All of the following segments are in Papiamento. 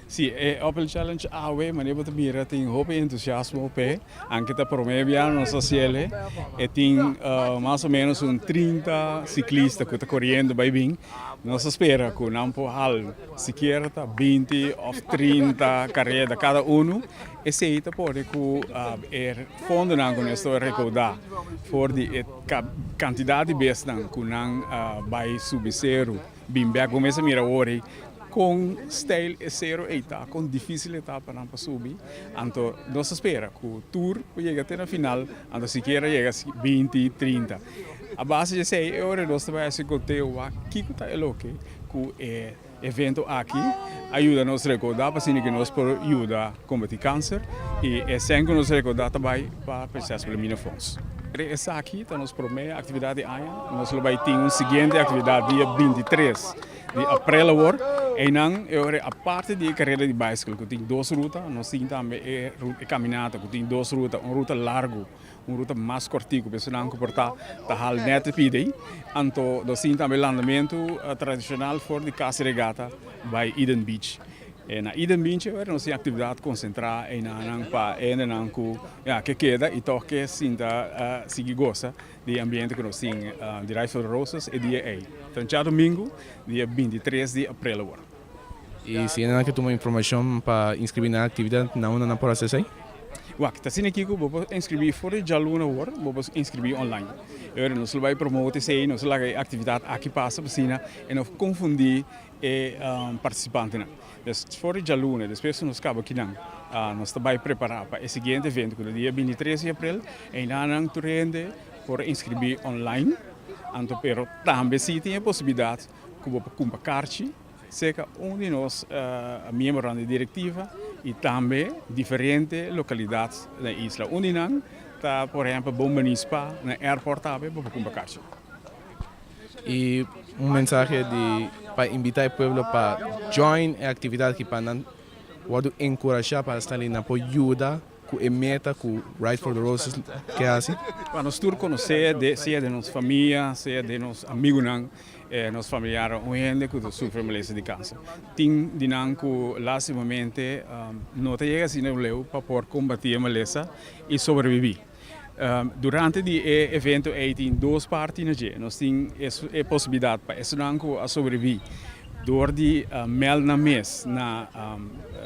Si, e Open Challenge awe, manera bo ta mira, tin hopi entusiasmo p'e. Anke ta promé biaha nos a hasiel'e, e tin mas o ménos un trinta siklista ku ta koriendo bai bin. Nos a spera ku nan por hal sikiera ta binti òf trinta kareda kada unu. Esei ta por di ku e fondonan ku nos ta rekaudá for di e kantidat di besnan ku nan bai subi seru bin bèk. Bo mes a mira awor ei kon stèil e seru ei ta, kon difísil e ta pa nan pa subi. Anto nos ta spera ku tur por yega te na final, anto sikiera yega binti, trinta. A base di esei e ora nos ta bai hasi konteo wak kiko ta e loke ku e. Evento aki a yuda nos rekorda pasobra di ke nos por yuda kombati kanser i esei ku nos rekorda ta bai pa Prinsesa Wilhelmina Fonds. Dje esaki ta nos promé aktividat di aña. Nos lo bai tin un siguiente aktividat dia bintitres di aprel awor. Einan e ora ei aparte di e karera di baisikl ku tin dos ruta nos tin tambe e kaminata ku tin dos ruta un ruta largu. Un ruta mas kortiku pa esunnan ku por ta ta hal nèt riba i dei. Anto lo sin tambe landamentu tradishonal for di Casa Regata bai Eden Beach. E na Eden Beach e nos tin aktividat konsentrá einanan pa hendenan ku ya ke keda i tòg ke sinta sigui gosa di e ambiente ku nos tin di Rij van de Roses e dia ei, ta Domingu dia binti tres di aprel awor. I si e nan ke tuma informashon pa inskribí na e aktividat, nan unda nan por hasi esei? Wak, ta asina aki ku bo por inskribí for di djaluna awor, bo por inskribí online. Oir nos lo bai promote esei, nos lo laga e aktividat aki pasa pa asina e no konfundí e partisipantenan. Pues, for di djaluna, despues ku nos kaba ku nan, nos ta bai prepará pa e siguiente evento, ku ta dia binti tres di aprel. Einan nan tur hende por inskribí online, anto pero tambe si tin e posibilidat ku bo por kumpa karchi serka un di nos miembronan di direktiva i tambe diferente lokalidat den isla. Un di nan ta por ehèmpel Bon Manispá, na airport tambe bo por kumpa karchi. I un mensahe di pa imbitá e pueblo pa join e aktividat ki pa nan wòrdu enkurashá pa sta lina, por yuda cu e meta cu Ride for the Roses ke haci. Pa nos tur conoce, sea den nos famia, sea den nos amigunan, nos familiar, un hende cu ta sufri molestia di cancer. Tin di nan cu lastimamente no ta yega asina leu pa por combati e malesa y sobrevivi. Durante di e evento ey tin dos parti na dje. Nos tin e posibilidad pa esnan cu a sobrevivi door di meld nan mes na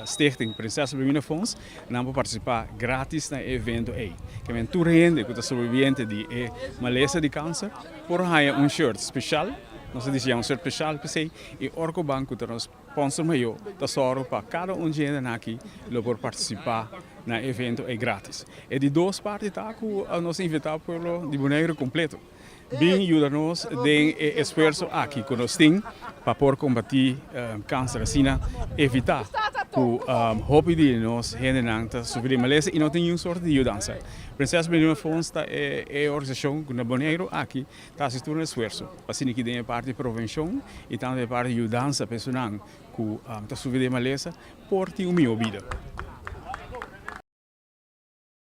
Stichting Prinsesa Wilhelmina Fonds. Nan por partisipá grátis na e evento ei. Kemen tur hende ku ta sobreviviente di e malesa di kanser por haña un short speshal, nos a disiñá un short speshal p'esei, i ora ku ban ku ta nos sponsor mayó ta sòru pa kada un dje hendenan aki lo por partisipá na e evento ei grátis. E di dos parti ta ku nos a invitá pueblo di Boneiru kompleto. Bin yuda nos den e esfuerso aki ku nos tin pa por kombatí kanser asina evitá ku hopi di nos hendenan ta sufri di malesa i no tin niun sòrta di yudansa. Princess Millennium Funds ta e organisashon ku na Boneiru aki ta hasi tur un esfuerso pa siña ki den e parti provenshon i tambe e parti yudansa pa esunnan ku ta sufri di e malesa por tin un mihó bida.